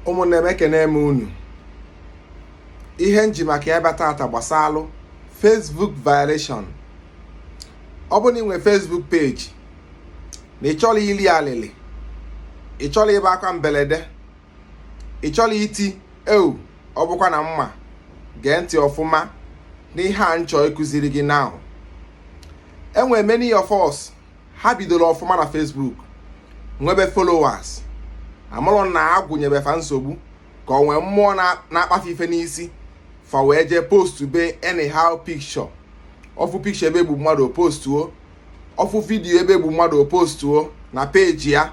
ụmụnne m ekene m unu ihe nji maka ya bịa tata gbasalụ Facebook violation ọ bụ na inwe Facebook page na ịchọla ili alịlị ịchọla ibe akwa mbelede ịchọla iti eu ọ bụkwa na m ma gee ntị ọfụma n'ihe a nchọ ịkụziri gị now enwere many of us ha bidoro ọfụma na Facebook nwebe followers amarọ na agwụ nyebe fa nsogbu ka o nwe mmụọ na-akpa fa ife n'isi fa wee jee postube anyhow picture ọ fụ picture ebe egbu mmadụ postuo ọ fụ vidiyo ebe egbu mmadụ postuo na peji ya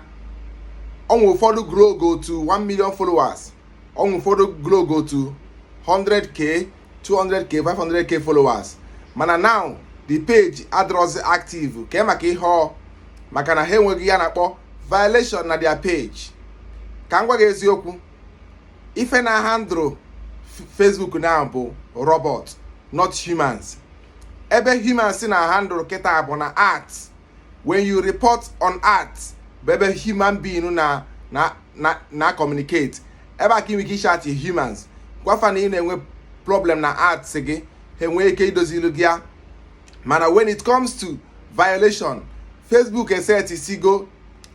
o nwe ụfọdụ growgo to 1 million followers o nwe ụfọdụ growgo to 100k 200k 500k followers mana now the page adịrọzi active kee maka ihe ọ maka na ha enwego ihe a na-akpọ violation na their page ka m gwa gị eziokwu ife na-ahandle Facebook now bụ robot not humans ebe humans na-ahandle kịta bụ na ads when you report on ads bụ ebe human being na na na na communicate ebe a ka inwe ike ịchat humans gwa fa na ị na-enwe problem na ads gị ha enwee ike idozilu gị ya mana when it comes to violation facebook esetisigo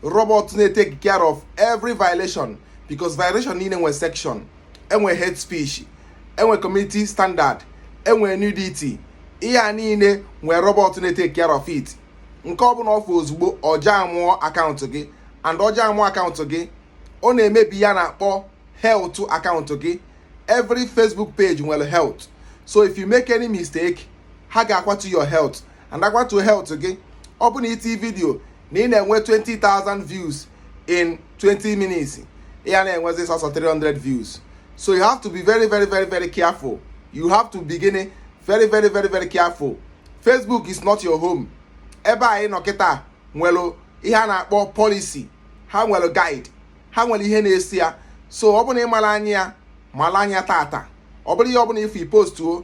robot na-etake care of every violation because violation niile nwe section enwe hate speech enwe community standard enwe nudity ihe a niile nwe robot na-etake care of it nke ọ bụla ọ fụ ozugbo ọ jamụọ akaụntụ gị and ọ jamụọ akaụntụ gị ọ na-emebi ihe a na-akpọ health akaụntụ gị every Facebook page nwere health so if you make any mistake ha ga-akwatu your health and akwatu health gị ọ bụ na iti vidio na ị na-enwe 20,000 views in 20 minutes ya na-enwezi sọsọ 300 views so you have to be very very very very careful you have to be gịnị very very very very careful Facebook is not your home ebe anyị nọ kịta nwere ihe a na-akpọ policy ha nwere guide ha nwere ihe na-esi ya so ọ bụrụ na ị mara anya ya mara anya tata ọ bụrụ ihe ọ bụla ifu ipostuo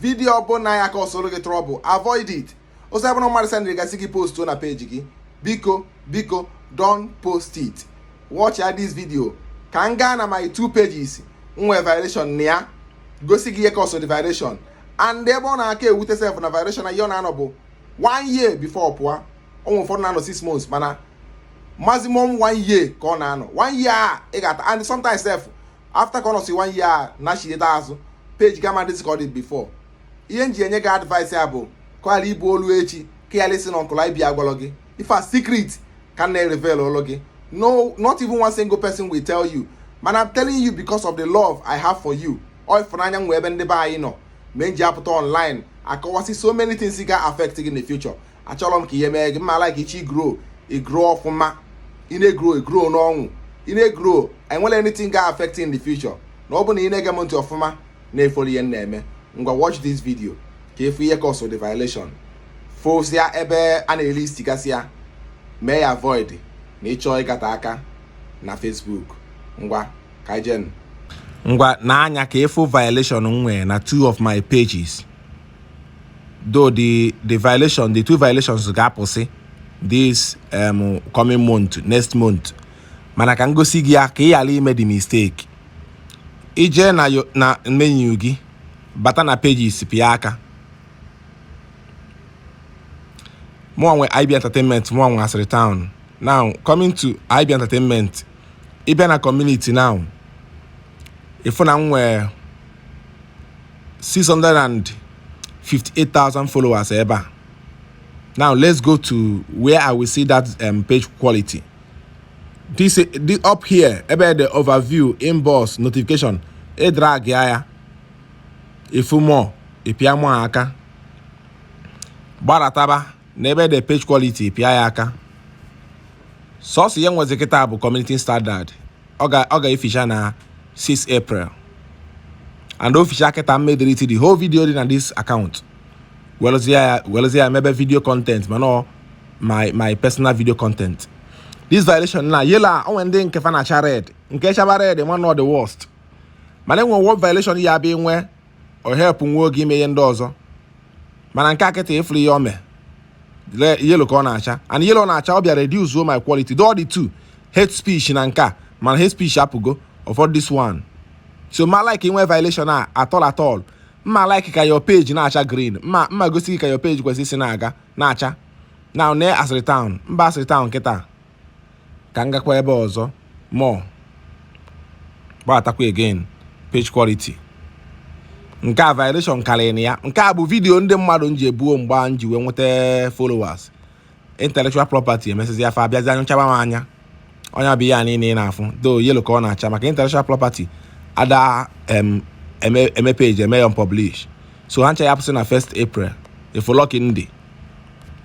vidiyo ọbụla ya-acausero gị trouble avoid it ozi abụrụ mmadụ sendịrị gị sị gị post na peji gị biko biko don't post it watchịa this video ka m gaa na my two pages nwee violation na ya gosi gị ihe cause the violation and ebe ọ na-aka ewute sef na violation na ihe ọ na-anọ bụ one year before ọ pụọ o nwe ụfọdụ na-anọ six months mana maximum one year ka ọ na-anọ one year a ị ga-ata and sometimes sef after ka ọ nọsi one year nachieta azụ page gị ama dịzi ka ọ dị before ihe m ji enye gị advice a bụ ka ọ ghara ịbụ olu echi ka ị ghara ịsị na uncle IB agwalọ gị ife a secret ka m na-reveal ụlụ gị no not even one single person will tell you mana i'm telling you because of the love i have for you ọ ịfụnanya m nwe ebe ndị be anyị nọ me m ji apụta online akọwasị so many things ga affect gị in the future achọrọ m ka ihe mee gị m ma like ichi grow i grow ọfụma ị na-egrow egrow n'ọṅụ ị na-egrow enwere anything ga affect in the future na ọ bụ na ị na-ege m ntị ọfụma na-efollow ihe m na-eme ngwa watch this video ka ị fụ ihe cause the violation fosịa ebe a na-elist gasịa mee ya avoid na ịchọọ ịgata aka na Facebook ngwa ka e jee ngwa n'anya ka ị fụ violation m nwere na two of my pages though the the violation the two violations ga-apụsị this um, coming month next month mana ka m gosi gị ya ka ị ghara ime the mistake i jee na na menu gị bata na pages pịa aka mụ nwe IB Entertainment mụ nwe asịrị town now coming to IB Entertainment ị bịa na community now ị fụ na m nwee 658,000 followers ebe a now let's go to where I will see that um, page quality this, this up here ebe the overview inbox notification ị drag ya ị fụ more ị pịa more aka gbarataba n'ebe ede page quality pịa ya aka sọsọ ihe m nwezi kịta bụ community standard ọ ga-eficha na 6 april and o ficha kịta m ma-edelete the whole video dị na this account welụzie ya mebe video content mana my my personal video content this violation na yellow o nwe ndị nke fa na-acha red nke chaba red one of the worst mana e nwe ụdị violation ị ya abịa inwe o wepụ nwa oge ime ihe ndị ọzọ mana nke a kịta ị fụrụ ihe o me yellow ka ọ na-acha and yellow na-acha ọ bịa reduce o my quality though ọ dị two hate speech na nke a mana hate speech apụgo ọ fọdụ this one so ma like inwe violation at all at all m ma like ka your page na-acha green m ma m ma gosi gị ka your page kwesịrị isi na-aga na-acha now na asịrị town m baa asịrị town kịta ka m gakwa ebe ọzọ more gbatakwa again page quality nke a violation karịrị na ya nke a bụ video ndị mmadụ m ji ebuo mgbe a m ji wee nweta followers intellectual property e mesịzia fa abịazia chaba m anya ọ nya bụ ihe a niile ị na-afụ though yellow ka ọ na-acha maka intellectual property ada eme page eme ya unpublish so ha ncha ya apụsị na 1st April efolọki ndị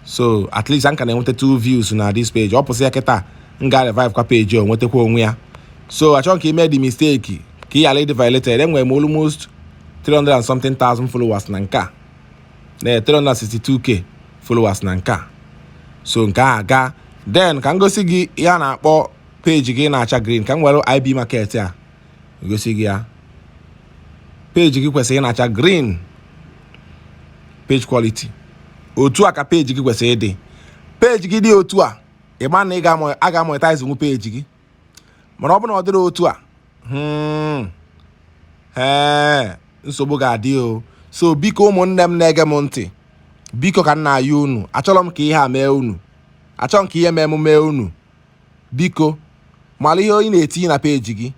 so at least m ka na-enwetatụ views na this page ọ pụsị ya kịta m ga revive kwa page o nwetakwa onwe ya so achọghị m ka i mee the mistake ka ị ghara ịdị violated enwere m almost 300 and something thousand followers na nke a na 362k followers na nke a so nke a gaa then ka m gosi gị ihe a na-akpọ peji gị ịna-acha green ka m were IB market a egosi gị ya peji gị kwesịrị ịna-acha green page quality otu a ka peji gị kwesịrị ịdị peji gị dị otu a ị ma na ị ga-amonetizenwu peji gị mana ọ bụ na ọ dịrọ otu a hmm, ee nsogbu ga-adị o so biko ụmụnne m na-ege m ntị biko ka m na-ayọ unu achọrọ m ka ihe a mee unu achọrọ m ka ihe mee m mee unu Biko mara ihe ị na-etinye na peji gị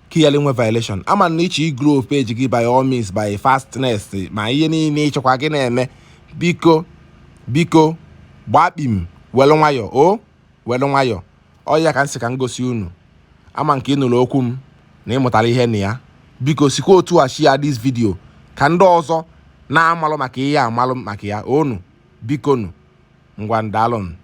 ka ị ghara inwe violation ama m na ị chọ igrow peji gị by all means by fastness ma ihe niile ị chọkwa gị na-eme biko gbaa kpim welu nwayọ o welu nwayọ ọ ya ka m sị ka m gosi unu ama m ka ị nụrụ okwu m na ị mụtara ihe na ya biko sikwa otu a share this video ka ndị ọzọ na-amarọ maka ihe a malụ maka ya onu bikonu ngwanụ daalụnụ